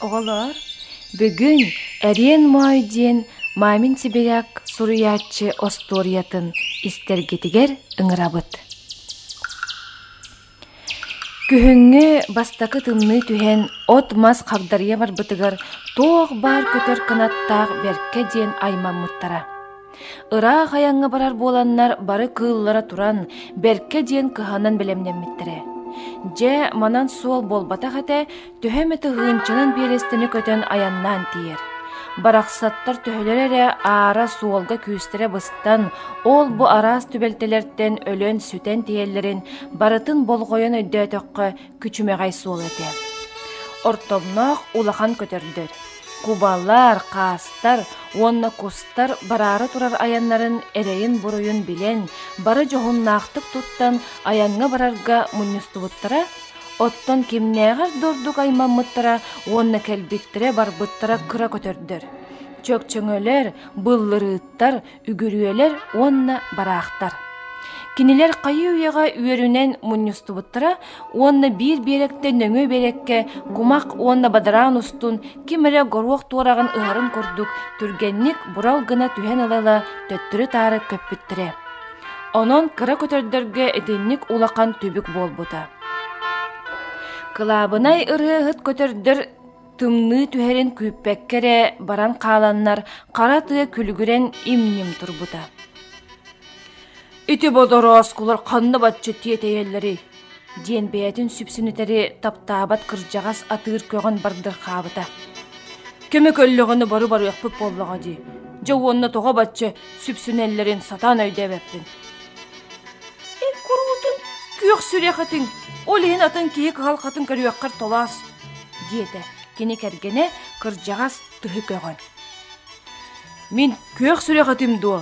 Оҕолоор, бүгүн «Эриэн Моой» диэн мамин сибиряк суруйааччы остуоруйатын истэргитигэр ыҥырабыт Күһүҥҥү бастакы тымныы түһэн от-мас хагдарыйа барбытыгар туох баар көтөр кынаттаах бэркэ диэн аймаммыттара. Ыраах айаҥҥа барар буоланнар бары кыыллара туран бэркэ диэн кыһанан бэлэмнэммиттэрэ. Дьэ, манан суол буолбатах этэ, төһө эмэ тыһыынчанан биэрэстэни көтөн айаннаан тиийэр. Барахсаттар төһөлөрө эрэ аара суолга күүстэрэ быстан, ол-бу араас түбэлтэлэртэн өлөн, сүтэн тиийэллэрин барытын болҕойон өйдөөтөххө күчүмэҕэй суол этэ. Ортомноох улахан көтөрдөр, кубалар, хаастар уонна кустар бараары турар айаннарын эрэйин-буруйун билэн, бары дьоһуннаахтык туттан айаҥҥа барарга мунньустубуттара Оттон кимнээҕэр да ордук аймаммыттара уонна кэлбиттэрэ-барбыттара кыра көтөрдөр. Чөкчөҥөлөр, быллырыыттар, үгүрүөлэр уонна бараахтар. Кинилэр хайыы-үйэҕэ үөрүнэн мунньустубуттара уонна биир биэрэккэ нөҥүө биэрэккэ кумах уонна бадараан устун ким эрэ горуох туораҕын ыһарын курдук түргэнник бурал гына түһэн ыла-ыла төттөрү-таары көппүттэрэ. Онон кыра көтөрдөргө итинник улахан түбүк буолбута. Кылаабынай ырыаһыт көтөрдөр тымныы түһэрин күүппэккэ эрэ баран хааланнар хара тыа күлүгүрэн имньим турбута. Ити бодороскулар ханна баччы тиэтэйэллэрий? диэн бэйэтин сүпсүнүтэри таптаабат кырдьаҕас атыыр көҕөн бардырхаабыта кэмэ көллөҕүнэ бары барыахпыт буоллаҕа дии дьэ уонна тоҕо бачча сүпсүнэллэрин сатаан өйдөөбөппүн эн куруутун күөх сүрэхитин ол иһин атын киһи кыһал хатын көрүөххэр толоос диэтэ кини кэргэнэ кырдьаҕас тыһы көҕөн мин күөх сүрэхитим дуо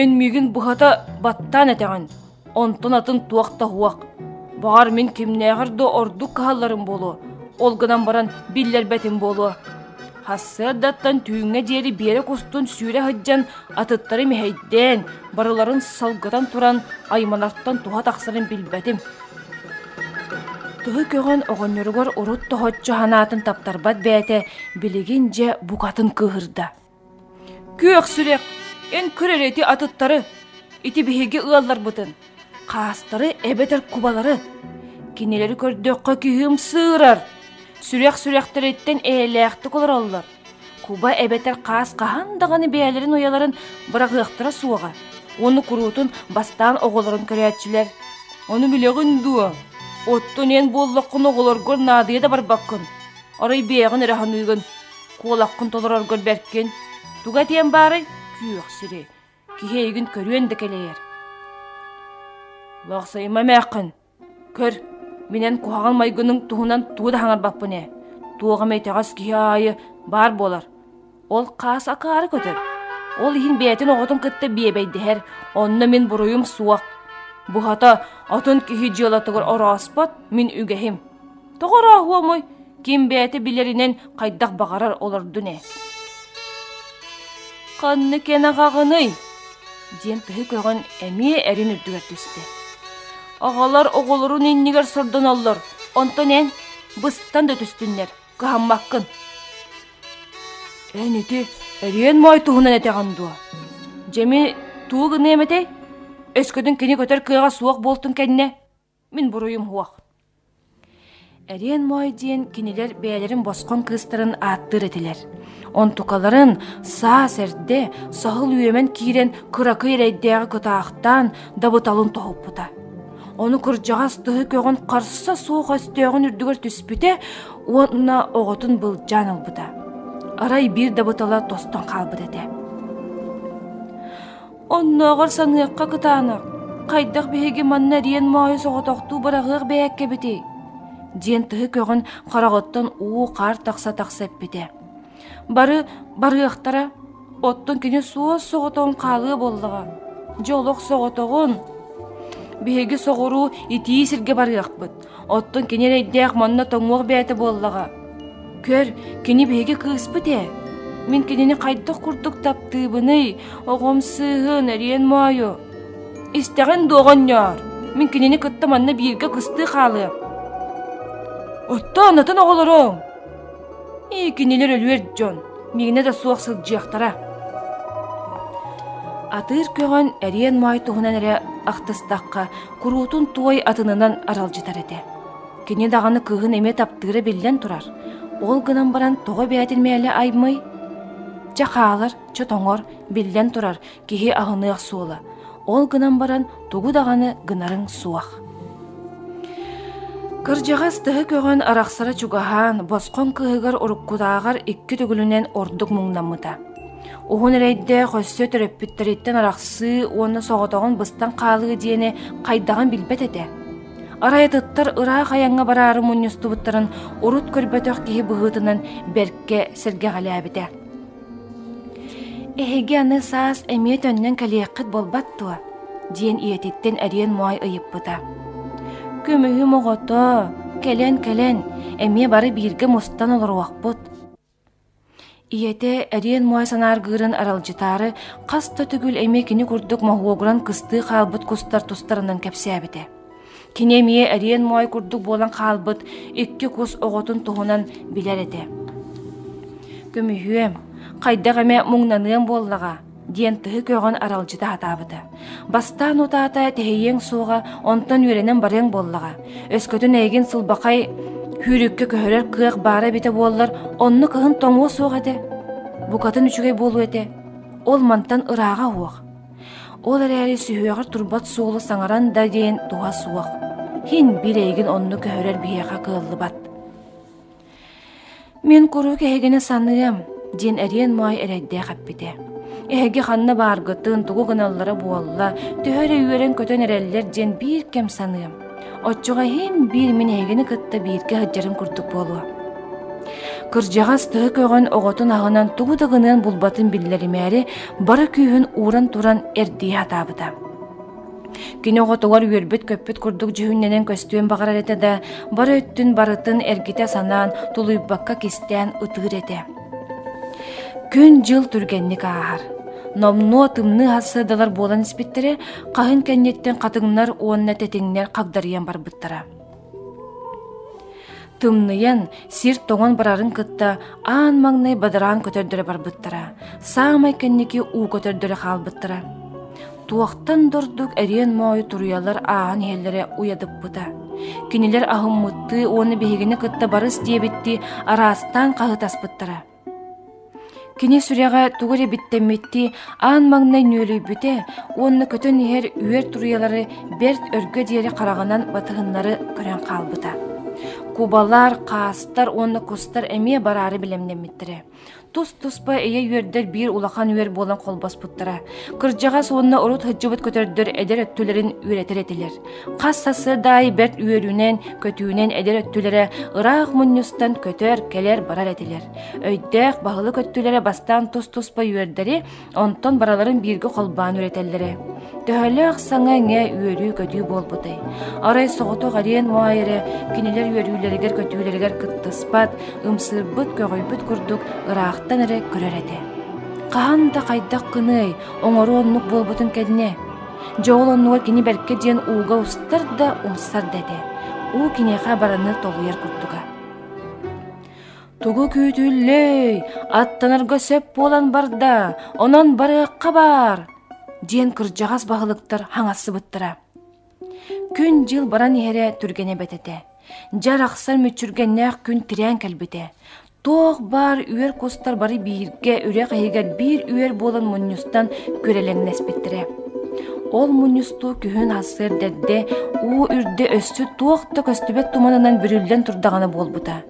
Өн-миигин быһата баттаан этэҕин, онтон атын туох да уһуох. Баҕар мин кимнээҕэр да ордук кыһалларым буолуо, ол гынан баран биллэрбэтим буолуо. Хассыардаттан түүҥҥэ диэри биэрэ кустун сүүрэ сылдьан атыттары мэһэйдээн, барыларын салгытан туран айманартан туһа тахсарын билбэтим. Тыһы көҕөн оҕонньоругар урут тоһоччу санаатын таптарбат бэйэтэ билигин дьэ букатын кыыһырда. Күөх сүрэх, эн көр эрэ ити атыттары, ити биһиги ыалларбытын, хаастары эбэтэр кубалары, кинилэри көрдөххө киһи ымсыырар, сүрэх сүрэхтэриттэн эйэлээхтик олороллор, куба эбэтэр хаас хаһан даҕаны бэйэлэрин уйаларын быраҕыахтара суоҕа, уонна куруутун бастаан оҕолорун көрөөччүлэр. Ону билэҕин дуо? Оттон эн буоллаххына оҕолоргор наадыйа да барбаккын, арай бэйэҕин эрэ саныыгын. Куолаккын толороргор бэркин. Туга этиэм баарай? Күөх сири. Киһиэйигин көрүөн да кэлэйэр. Лахсайыма эмээххин. Көр, минэн куһаҕан майгының туһунан тугу да хаҥарбаппын ээ. Туох эмэ итэҕэс киһи аайы баар буолар. Ол хаас акаары көтөр. Ол иһин бэйэтин оҕотун кытта биэбэйдэһэр, онно мин буруйум суох. Буһата, отун киһи дьыалатыгар орооспот, мин үгэһим. Тоҕо орооһуомуй, ким бэйэтэ билэринэн хайдах баҕарар олордун ээ. «Ханны кэнэҕэҕиний?» диэн тыһы көҕөн эмиэ эрин үрдүгэр түстэ. «Аҕалар оҕолорун иннигэр сордонуллар, онтон эн быстан да түстүннэр, кыһаммаккын!» «Эн ити эриэн моой туһунан этэҕин дуо? Дьэми тугу гыныам этэй? Өскөтүн кини көтөр кыаҕа суох буолтун кэннэ?» Мин буруйум суох. Эриэн Моой диэн кинилэр бэйэлэрин босхон кыыстарын ааттыыр этилэр. Онтукаларын саас эрдэ саһыл үөмэн киирэн кыракый эрэйдээҕи кытаахтаан дабыталын тоһуппута. Ону кырдьаҕас тыһы көҕөн харса суох өстөөҕүн үрдүгэр түспүтэ уонна оҕотун былдьаан ылбыта. Арай биир дабытала тостон хаалбыт этэ. Оннооҕор саныахха кытаанах, хайдах биһиги манна эриэн моойу соҕотохтуу быраҕыах бэйээккэбитий? диэн тыһы көҕөн хараҕыттан уу-хаар тахса-тахса эппитэ. Бары барыахтара, оттон кини суос соҕотоҕун хаалыа буоллаҕа. Дьэ олох соҕотоҕун. Биһиги соҕуруу итии сиргэ барыахпыт. Оттон кини эрэйдээх манна тоҥуох бэйэтэ буоллаҕа. Көр, кини биһиги кыыспыт ээ. Мин кинини хайдах курдук таптыыбыный, оҕом сыыһын, эриэн моойу? Истэҕин дуо оҕонньоор, мин кинини кытта манна бииргэ кыстыы хаалыам. Оттон атын оҕолоруҥ? Ии кинилэр өлүөр дьон, миэнэ да суох сылдьыахтара. Атыыр көҕөн эриэн моой туһунан эрэ ахтыстахха, Куруутун туой атынынан аралдьытар этэ. Кини даҕаны кыыһын эмиэ таптыыра биллэн турар. Ол гынан баран тоҕо эбээтин мээлэ аймый? Чэ хаалар, чэ тоҥор, биллэн турар, киһи аһыныах суола. Ол гынан баран тугу даҕаны гынарыҥ суох. Кырдьаҕас тыһы көҕөн арахсара чугаһаан, босхоҥ кыыһыгар уруккутааҕар икки төгүлүнэн ордук муҥнаммыта. Уһун эрэйдээх өссө төрөппүттэриттэн арахсыы уонна соҕотоҕун быстан хаалыы диэни хайдаҕын билбэт этэ. Арай атыттар ыраах айаҥҥа бараары мунньустубуттарын урут көрбөтөх киһи быһыытынан бэркэ сэргэҕэлээбитэ. «Эһиги аны саас эмиэ төннөн кэлиэххит буолбат дуо?» диэн ийэтиттэн эриэн моой ыйыппыта. «Көмүһүм оҕото, кэлэн-кэлэн, эмиэ бары бииргэ мустан олоруохпут» ийэтэ эриэн муойа санааргыырын аралдьытаары хас да төгүл эмиэ кини курдук моһуогуран кыстыы хаалбыт кустар тустарынан кэпсээбитэ кини эмиэ эриэн муой курдук буолан хаалбыт икки кус оҕотун туһунан билэр этэ көмүһүөм хайдах эмэ муҥнаныам буоллаҕа диэн тыһы көҕөн аралдьыта сатаабыта. Бастаан утаата тэһийиэҥ суоҕа, онтон үөрэнэн барыаҥ буоллаҕа. Өскөтүн эйигин сылбахай күүрүккэ көһөрөр кыах баара эбитэ буоллар, онно кыһын тоҥуо суох этэ. Букатын үчүгэй буолуо этэ. Ол мантан ырааҕа уох. Ол эрээри сүһүөҕэр турбат суолу саҥаран да диэн туһа суох. Хин бир эйигин онну көһөрөр биһиэхэ кыаллыбат. Мин куруук эһигини саныам, диэн эриэн Маай эрэйдээх эппитэ. Эһиги ханна бааргытын, тугу гыналлара буолла, төһө эрэ үөрэн-көтөн эрэллэр диэн биир кэм саныам. Оччоҕо иһин биир мин эһигини кытта бииргэ сылдьарын курдук буолуо. Кырдьаҕас тыһы көҕөн оҕотун аһынан тугу да гыныан булбатын биллэримээри бары күүһүн ууран туран эрдийэ сатаабыта. Кини оҕотугар үөрбүт-көппүт курдук дьүһүннэнэн көстүөн баҕарар этэ да, бары өттүн барытын эргитэ санаан, тулуйбакка кистээн ытыыр этэ. Күн-дьыл түргэнник ааһар. Номнуо тымныы сыадалар буолан испиттэрэ, хаһын кэнниттэн хатыҥнар уонна тэтиҥнэр хагдарыйан барбыттара. Тымныйан, сир тоҥон барарын кытта аан маҥнай бадараан көтөрдөрө барбыттара, саамай кэнники уу көтөрдөрө хаалбыттара. Туохтан да ордук эриэн моойу туруйалар ааһан иһэллэрэ уйадыппыта. Кинилэр аһыммыттыы уонна биһигини кытта барыс диэбиттии араастаан хаһытаспыттара. Кини сүрэҕэ тугу эрэ биттэммиттии аан маҥнай нүөлүйбүтэ уонна көтөн иһэр үөр туруйалары бэрт өргө диэри хараҕынан батыһыннары көрөн хаалбыта. Кубалар, хаастар уонна кустар эмиэ бараары бэлэмнэммиттэрэ. Тус-туспа ийэ үөрдэр биир улахан үөр буолан холбоспуттара. Кырдьаҕас уонна урут сылдьыбыт көтөрдөр эдэр өттүлэрин үөрэтэр этилэр. Хас сарсыардаай бэрт үөрүүнэн, көтүүнэн эдэр өттүлэрэ ыраах мунньустан көтөр, кэлэр-барар этилэр. Өйдөөх баһылык өттүлэрэ бастаан тус-туспа үөрдэри, онтон барыларын бииргэ холбоон үөрэтэллэрэ. Төһөлөөх саҥа эҥэ үөрүү-көтүү буолбутай. Арай соҕотох ариен Муайеры кинилэр үөрүүлэригэр көтүүлэригэр кыттыспат, ымсыырбыт, көҕүйбүт курдук ыраахтан эрэ көрөр этэ. Хаһан да хайдах гыный, оҥоруу оннук буолбутун кэннэ Дьэ ол оннугар кини бэркэ диэн ууга устар да умсар да этэ. Уу киниэхэ бараны толуйар курдуга. Тугу күүтүллүүй, аттанарга сөп буолан барда, онон барыахха баар, диэн кырдьаҕас баһылыктар хаҥассыбыттара. Күн-дьыл баран иһэрэ түргэнэ эбэт этэ. Дьэ арахсар мүччүргэннээх күн тирээн кэлбитэ. Туох баар үөр кустар бары бииргэ үрэх иһигэр биир үөр буолан мунньустан күрэлэҥнэспиттэрэ. Ол мунньустуу күһүн сарсыарда уу үрдэ өссө туох да көстүбэт туманынан бүрүллэн турдаҕына буолбута.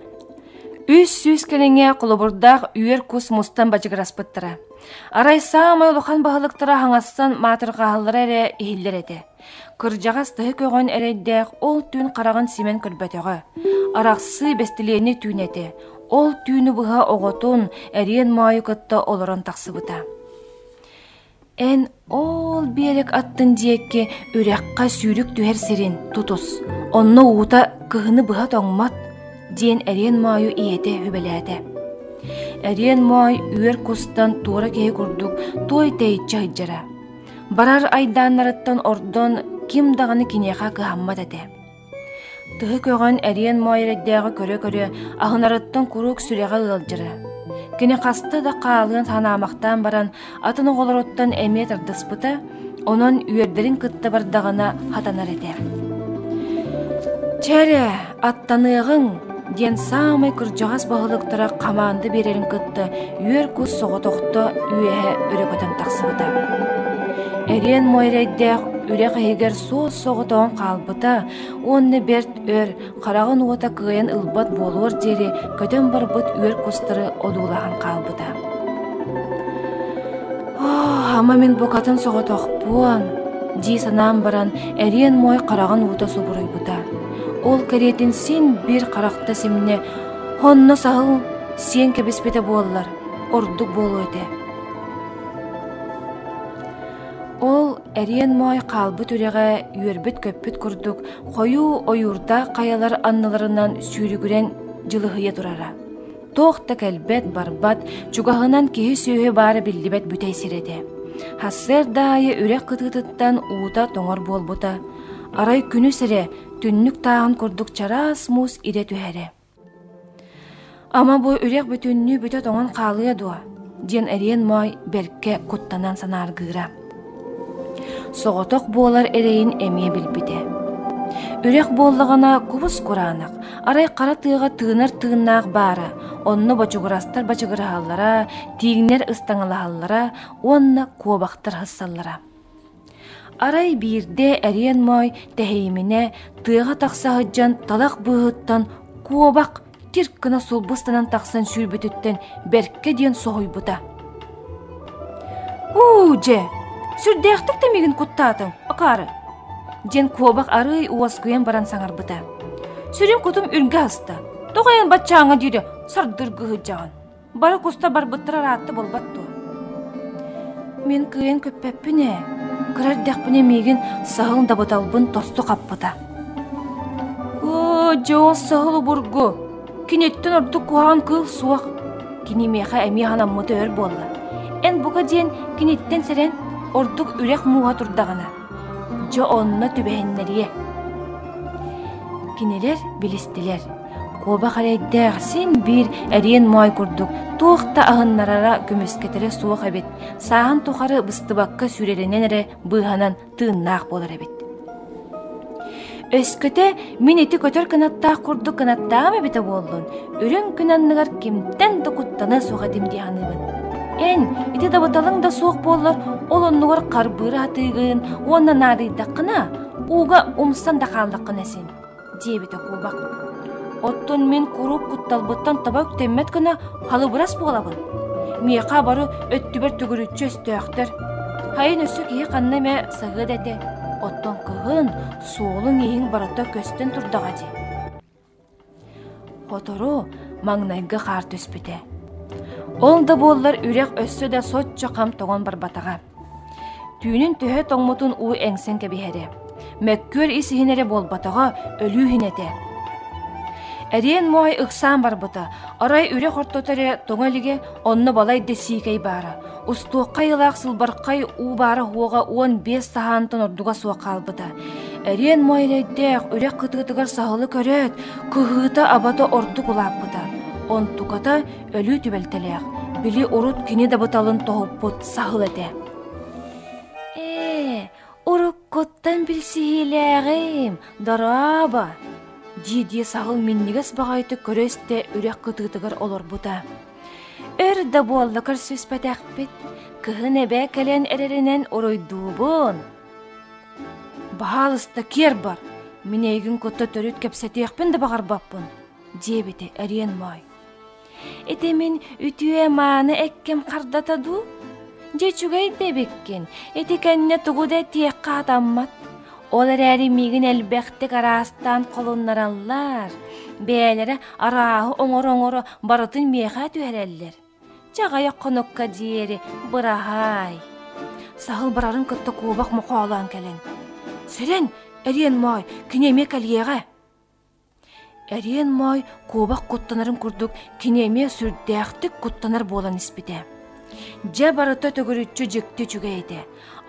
Үс сүүс кэриҥэ холобурдаах үөр кус мустан бадьыгыраспыттара. Арай саамай улахан баһылыктара хаҥассан маатырҕаһаллара эрэ иһиллэр этэ. Кырдьаҕас тыһы көҕөн эрэйдээх ол түүн хараҕын симэн көрбөтөҕө. Арахсыы бэстилиэнньэ түүн этэ. Ол түүнү быһа оҕотун, эриэн моойу кытта олорон тахсыбыта. Эн ол биэрик аттын диэки үрэххэ сүүрүк түһэр сирин тутус, онно уута кыһыны быһа тоҥмат, диэн эриэн моойу ийэтэ сүбэлээтэ. Эриэн моой үөр кустан туора киһи курдук туой тэйиччи сылдьара. Барар айдааннарыттан ордон ким даҕаны киниэхэ кыһаммат этэ. Тыһы көҕөн эриэн моойрэйдээҕи көрө-көрө аһынарыттан куруук сүрэҕэ ыалдьара. Кини хаста да хаалыан санаамахтаан баран атын оҕолоруттан эмиэ тардыспыта, онон үөрдэрин кытта бардаҕына хатанар этэ. «Чэрэ, «Аттаныаҕыҥ!» диэн саамай кырдьаҕас баһылыктара хамаанда биэрэрин кытта үөр кус соҕотохто үөһэ өрө көтөн тахсыбыта. Эриэн муойрайдаах үрэх иһигэр суос соҕотоҕун хаалбыта уонна бэрт өр хараҕын уота кыайан ылбат буолуор диэри көтөн барбыт үөр кустары одуулаһан хаалбыта. «Ама мин букатын соҕотохпун» дии санаан баран эриэн муой хараҕын уута субуруйбута. Ол кэриэтин син биир харахта симнэ, онно саһыл сиэн кэбиспитэ буоллар, ордук буолуо этэ. Ол эриэн моой хаалбыт үрэҕэ үөрбүт-көппүт курдук хойуу ойуурдаах хайалар анныларынан сүүрүгүрэн дьылыһыйа турара. Туох да кэлбэт, барбат, чугаһынан киһи-сүөһү баара биллибэт бүтэй сир этэ. Сарсыарда аайы үрэх кытыытыттан уута тоҥор буолбута. Арай күнүс эрэ түннүк тааһын курдук чараас муус идэ түһэрэ. Ама бу үрэх бүтүннүү бүтэ тоҥон хаалыа дуо? диэн эриэн моой бэлкэ куттанан санааргыыра. Соҕотох буолар эрэйин эмиэ билбитэ. Үрэх буоллаҕына кубус кураанах, арай хара тыаҕа тыынар тыыннаах баара, онно бочугурастар бачыгыраһаллара, тииҥнэр ыстаҥалаһаллара уонна куобахтар һыссаллара. Арай биирдэ Эриэн Моой тэһэйиминэ тыаҕа тахса сылдьан талах быыһыттан куобах кирк гына сулбу ыстанан тахсан сүүрбүтүттэн бэркэ диэн соһуйбута уу дьэ сүрдээхтик тэмигин куттаатыҥ акаары диэн куобах арыый уоскуйан баран саҥарбыта сүрүн кутум үргэ аста тоҕо эн баччааҥҥа диэри сардыргы сылдьаҕын Бары куста барбыттара ыраатта буолбат дуо? Мин кыайан көппөппүн ээ, кыра эрдэхпинэ миигин саһыл дабыталбын тосту хаппыта. Оо, дьоҕус саһыл обургу, киниттэн ордук куһаҕан кыыл суох. Кини миэхэ эмиэ ханаммыта өр буолла. Эн бука диэн киниттэн сэрэн, ордук үрэх мууһа турдаҕына. Дьэ онно түбэһиннэриэ. Кинилэр билистилэр, куобах эрэйдээх син биир эриэн моой курдук туох да аһыннарара көмүскэтэрэ суох эбит, сааһын тухары быстыбакка сүүрэринэн эрэ быыһанан тыыннаах буолар эбит. Өскөтө мин ити көтөр кынаттаах курдук кынаттаам эбитэ буоллун, үрүҥ күн анныгар кимтэн да куттана суох этим дии саныыбын. Эн ити дабыталыҥ да суох буоллар, ол оннугар харбыыр атыыгын уонна наадыйдаххына, ууга умсан да хааллаххына син, диэбитэ куубак. Оттон мин куруук кутталбыттан таба үктэммэт гына халыбырас буолабын. Миэхэ бары өттүбэр төгүрүччү өстөөхтөр. Хайын өссө киһи ханна эмэ саһыат этэ, оттон кыһын, суолуҥ-иһиҥ барыта көстөн турдаҕа дии. Сотору маҥнайгы хаар түспүтэ. Ол да буоллар үрэх өссө да соччо хам тоҥон барбатаҕа. Түүнүн төһө тоҥмутун уу эҥсэн кэбиһэрэ. Мөккүөр ис иһин эрэ буолбатаҕа өлүү иһин этэ. Эриэн моой ыксаан барбыта. Арай үрэх ортото эрэ тоҥо илигэ, онно балай да сиикэй баара. Устуокка айылаах сылбархай уу баара уоҕа уон биэс саһаантан ордуга суох хаалбыта. Эриэн Муойанайдээх үрэх кытыытыгар саһылы көрөөт, кыһыыта-абата ордук улааппыта. Онтуката өлүү түбэлтэлээх, били урут кини дабыталын тоһуппут саһыл этэ. Уруккуттан билсиһиилээҕим, дорообо, дии-дии саһыл минньигэс баҕайытык көрө-истэ үрэх кытыытыгар олорбута. Өр да буолла көрсүспэтэхпит, кыһын эбээ кэлэн эрэринэн уруйдуубун. «Баһаалыста киэр бар, мин эйигин кытта төрүт кэпсэтиэхпин да баҕарбаппын», диэбитэ эриэн моой. Ити мин үтүө-мааны экким хардата дуу? Дьэ үчүгэй да эбиккин, ити кэннэ тугу да этиэххэ атаммат. Ол эрээри миигин элбэхтик араастаан холуннараллар, бэйэлэрэ арааһы оҥоро-оҥоро барытын миэхэ түһэрэллэр. Чаҕыйа хонукка диэри быраһаай. Саһыл барарын кытта куобах мохоолоон кэлэн: «Сэрэн, эриэн моой, кини эмиэ кэлиэҕэ!» Эриэн Моой куобах куттанарын курдук кини эмиэ сүрдээхтик куттанар буолан испитэ. Дьэ барыта төгүрүччү дьикти үчүгэй этэ.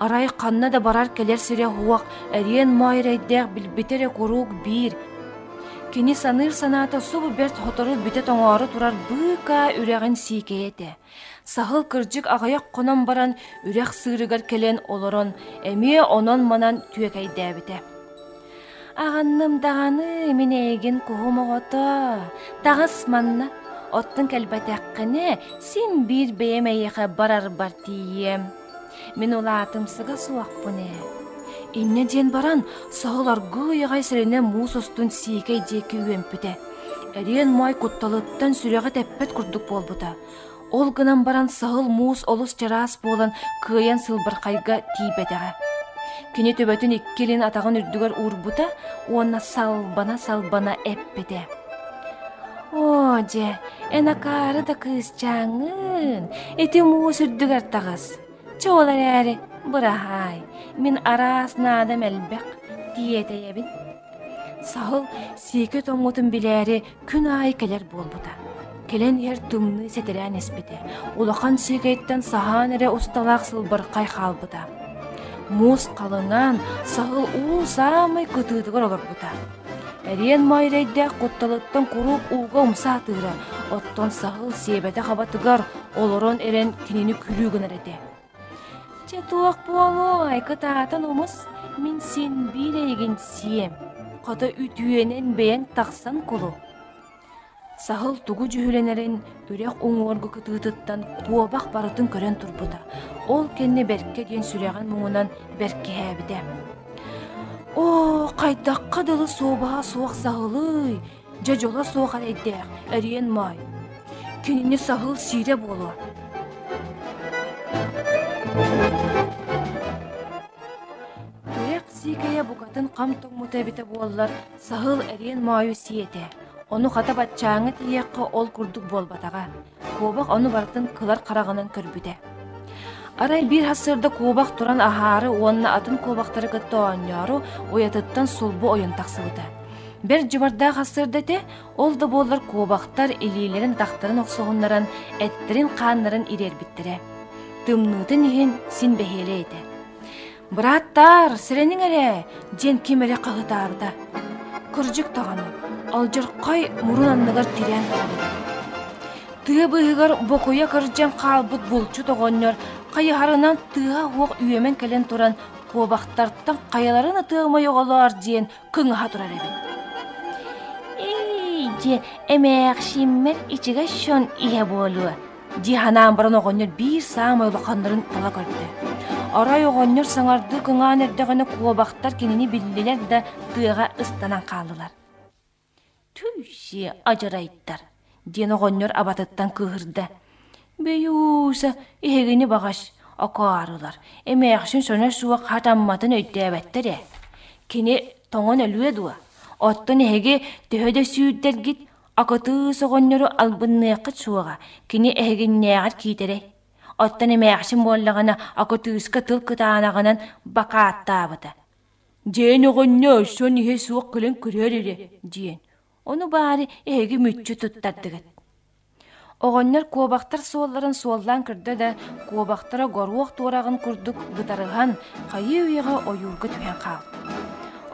Арай ханна да барар-кэлэр сирэ-уох Эриэн Моой эрэйдээх билбитэ эрэ куруук биир. Кини саныыр санаата субу бэрт сотору бүтэ тоҥоору турар быыкаа үрэҕин сиикэйэ этэ. Саһыл кырдьык аҕыйах хонон баран үрэх сыырыгар кэлэн олорон эмиэ онон-манан түөкэйдээбитэ. «Аҕанным даҕаны мин эйигин куһум оҕото, таҕыс манна, оттон кэлбэтэххинэ син биир бэйэм эйиэхэ барарбар тиийиэм» Мин улаатымсыга суохпун ээ. Инньэ диэн баран, соһолоргуу уйаҕай сэрэнэ муус устун сиикэй диэки үөмпүтэ. Эриэн Моой кутталыттан сүрэҕэ тэппэт курдук буолбута. Ол гынан баран саһыл муус олус чараас буолан кыайан сылбырхайга тиийбэтэҕэ. Кини төбөтүн икки илин атаҕын үрдүгэр уурбута уонна салбана-салбана эппитэ: оо дьэ эн акаары да кыысчааҥҥын ити муус үрдүгэр таҕыс чэ ол эрээри быраһаай мин араас наадам элбэх тиэтэйэбин саһыл сиэкэ тоҥмутун билээри күн аайы кэлэр буолбута кэлэн иһэр тымныы сэтирээн испитэ улахан сиэкэйтэн саһаан эрэ усталаах сылбархай хаалбыта муус халыҥаан саһыл уу саамай кытыытыгар олорбута Эриэн Моойрэйдээх кутталыттан куруук ууга умса атыыра, оттон Саһыл сиэбэтэ-хабатыгар олорон эрэн кинини күлүү гынар этэ. «Чэ туох буолуой, кытаатан умус, мин син биир эйигин сиэм, хата үтүөнэн бэйэҥ тахсан кулу» Саһыл тугу дьүһүлэнэрин үрэх уҥуоргу кытыытыттан куобах барытын көрөн турбута, ол кэннэ бэркэ диэн сүрэҕин муҥунан бэркиһээбитэ. «Оо, хайдахха дылы суобаһа суох саһылый, дьадьола суох эрэйдээх, эриэн маай! Кинини саһыл сиирэ буолуо!» Тирэх сиикэйэ букатын хам тоҥмута эбитэ буоллар, Саһыл эриэн моойу сии этэ, ону хата баччааҥҥы тиийиэххэ ол курдук буолбатаҕа, куобах ону барытын кылар хараҕынан көрбүтэ. Арай биир хас сырда куобах туран аһаары уонна атын куобахтары кытта оонньоору уйатыттан сулбу ойон тахсыбыта. Бэрт дьыбардаах хас сырда этэ, ол да буоллар куобахтар илиилэрин тахтарын охсуһуннаран, эттэрин-хааннарын ириэрбиттэрэ. Тымныытын иһин син бэһиэлэй этэ. «Бырааттаар, сэрэниҥ эрэ!» диэн ким эрэ хаһытаабыта. Кырдьык даҕаны, алдьархай мурун анныгар тирээн хаалбыта. Тыа быыһыгар бокуйа кырдьан хаалбыт булчут оҕонньор хайыһарынан тыаһа-уох үөмэн кэлэн туран куобахтартан хайаларын атыамай оҕолоор диэн кыҥаһа турар эбит. «Эй, дьэ, эмээхсиммэр ичигэс дьон иһэ буолуо» дии санаан баран оҕонньор биир саамай улаханнарын тала көрдө. Арай оҕонньор саҥардыы кыҥаан эрдэҕинэ куобахтар кинини биллилэр да тыаҕа ыстанан хааллылар. «Түлсиэ адьырайдар!» диэн оҕонньор абатыттан кыыһырда. «Бэйууса, эһигини баҕас, окаарылар, эмээхсин соно суох хатамматын өйдөөбөттөр ээ. Кини тоҥон өлүө дуо? Оттон эһиги төһө да сүүрдэргит, Акытыыс оҕонньору албынныаххыт суоҕа, кини эһигиннээҕэр киитэрэй. Оттон эмээхсин буоллаҕына, акытыыска тыл кытаанаҕынан бакааттаабыта. «Диэн оҕонньор, сон иһэ суох кэлэн көрөөр эрэ» диэн. Ону баары эһиги мүччү туттардыгыт. Оҕонньор куобахтар суолларын суоллаан көрдө да, куобахтара горуох туораҕын курдук бытарыһан, хайыы үйэҕэ ойуурга түһэн хаалта.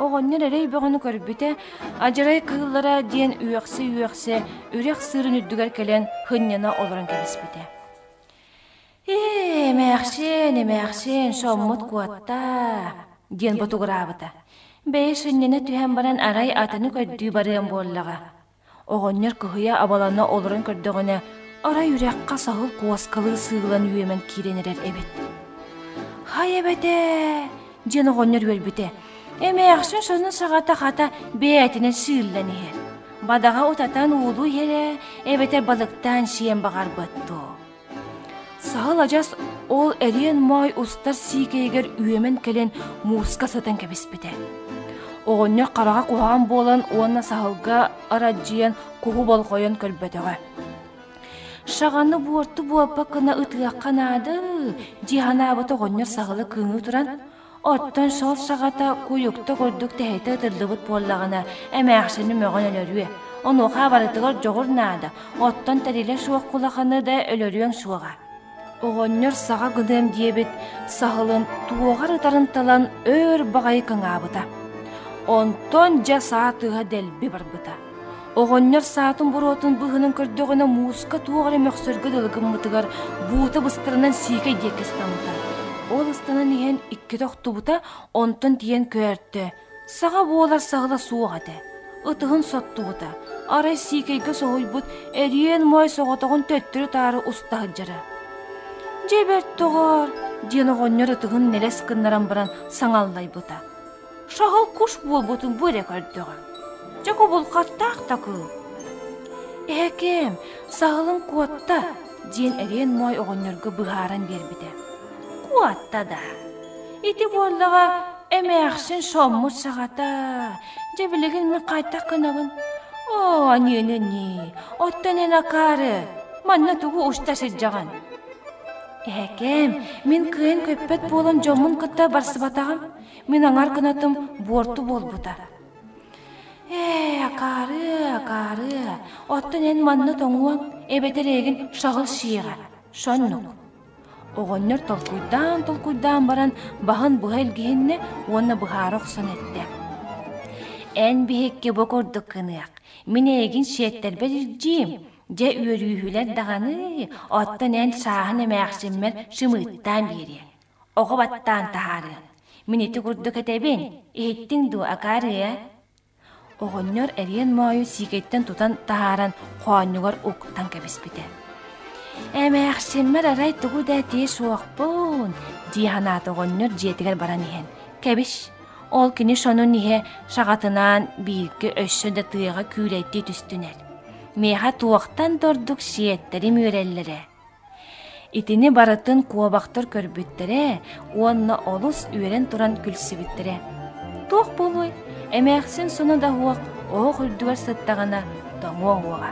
Оҕонньор эрэй бөҕөнү көрбүтэ, адьарай кыыллара диэн үөхсэ-үөхсэ үрэх сыырын үрдүгэр кэлэн һынньана олорон кэбиспитэ. «Ээ, эмээхсин, эмээхсин, соммут куоттаа!» диэн ботугураабыта. «Бэйи сынньана түһэн баран, арай атыны көрдүү барыам буоллаҕа». Оҕонньор кыһыйа абалана олорон көрдөҕүнэ, арай үрэххэ саһыл куоскалыы сыыллан үөмэн киирэн эрэр эбит. «Һай эбэтээ!» диэн оҕонньор үөрбүтэ. Эмээхсин сонун саҕата-хата бэйэтинэн сыыллан иһэр. Бадаҕа утатан уулуу иһэрэ эбэтэр балыктаан сиэн баҕарбат дуо? Саһыл адьас ол эриэн моой устар сиикэйигэр үөмэн кэлэн мууска сытан кэбиспитэ. Оҕонньор хараҕа куһаҕан буолан уонна Саһылга арадьыйан куһу болҕойон көрбөтөҕө. «Шаҕаны буорту буолбакк гына ытыахха наада» дии санаабыт оҕонньор Саһылы кыыныы туран Оттон шал шаҕата куйукта курдук тэһитэ ытыллыбыт буоллаҕына, эмээхсини мөҕөн өлөрүө. Онуоха барытыгар дьоҕур наада, оттон тэрилэ суох кулаханы да өлөрүөн суоҕа. Оҕонньор саҕа гыныам диэбит саһылын туоҕар ытарын талан өр баҕайы кыҥаабыта. Онтон дьэ саа тыаһа дэлби барбыта Оҕонньор саатын-буруотун быһынын көрдөҕүнэ мууска туох эрэ мөхсөргө дылы гыммытыгар буута быстарынан сиикэй диэккэ ыстаммыта. Ол ыстанан иһэн иккитэ охтубута, онтон тиийэн көөртө. Саҕа буолар саҕала суох этэ. Ытыһын соттубута. Арай сиикэйгэ соһуйбут эриэн моой соҕотоҕун төттөрү-таары уста сылдьара. «Дьэ бэрт доҕоор!» диэн оҕонньор ытыһын нэлэс гыннаран баран саҥаллайбыта. Шаһыл куш буолбутун бу эрэ көрдөҕө. Дьэ кубулҕаттаах да кыыл. Эһэкэм, саһылыҥ куотта, диэн эриэн моой оҕонньорго быһааран биэрбитэ. Куотта да. Ити буоллаҕа эмээхсин шоммут саҕата. Дьэ билигин мин хайдах гынабын? Оо, ниэнэ-нии, оттон эн акаары манна тугу уста сылдьаҕын? Эһэкэм, мин кыайан көппөт буолан дьоммун кытта барсыбатаҕым. Мин аҥар гынатым, буорту буолбута. «Ээ, акаарыа, акаарыа, оттон эн манна тоҥуоҥ, эбэтэр эйигин шаҕыл шиэҕэ, шоннук». Оҕонньор толкуйдаан-толкуйдаан баран, баһын быһа илгиһиннэ уонна быһаара охсон эттэ: «Эн биһикки бу курдук гыныах, мин эйигин шиэттэрбэт илдьиим, дьэ үөрүүһүлэр даҕаны, оттон эн шааһын эмээхсиммэр шымыыттаан биэриэ». оҕо баттаан таһаарыаҥ. Мин ити курдук этэбин, иһиттиҥ дуо, акаарыа?» Оҕонньор эриэн моойу сиикэйтэн тутан таһааран хоонньугар уктан кэбиспитэ. «Эмээхсиммэр арай тугу да этии суохпун», дии санаата оҕонньор дьиэтигэр баран иһэн. «Кэбис, ол кини сонун иһэ шаҕатынаан бииргэ өссө да тыаҕа күүлэйдии түстүнэр. Миэхэ туохтан да ордук сиэттэрим үөрэллэрэ» Итини барытын куобахтар көрбүттэрэ уонна олус үөрэн туран күлсүбүттэрэ: «Туох буолуой, эмээхсин соно да суох оһох үрдүгэр сыттаҕына тоҥуо уоҕа»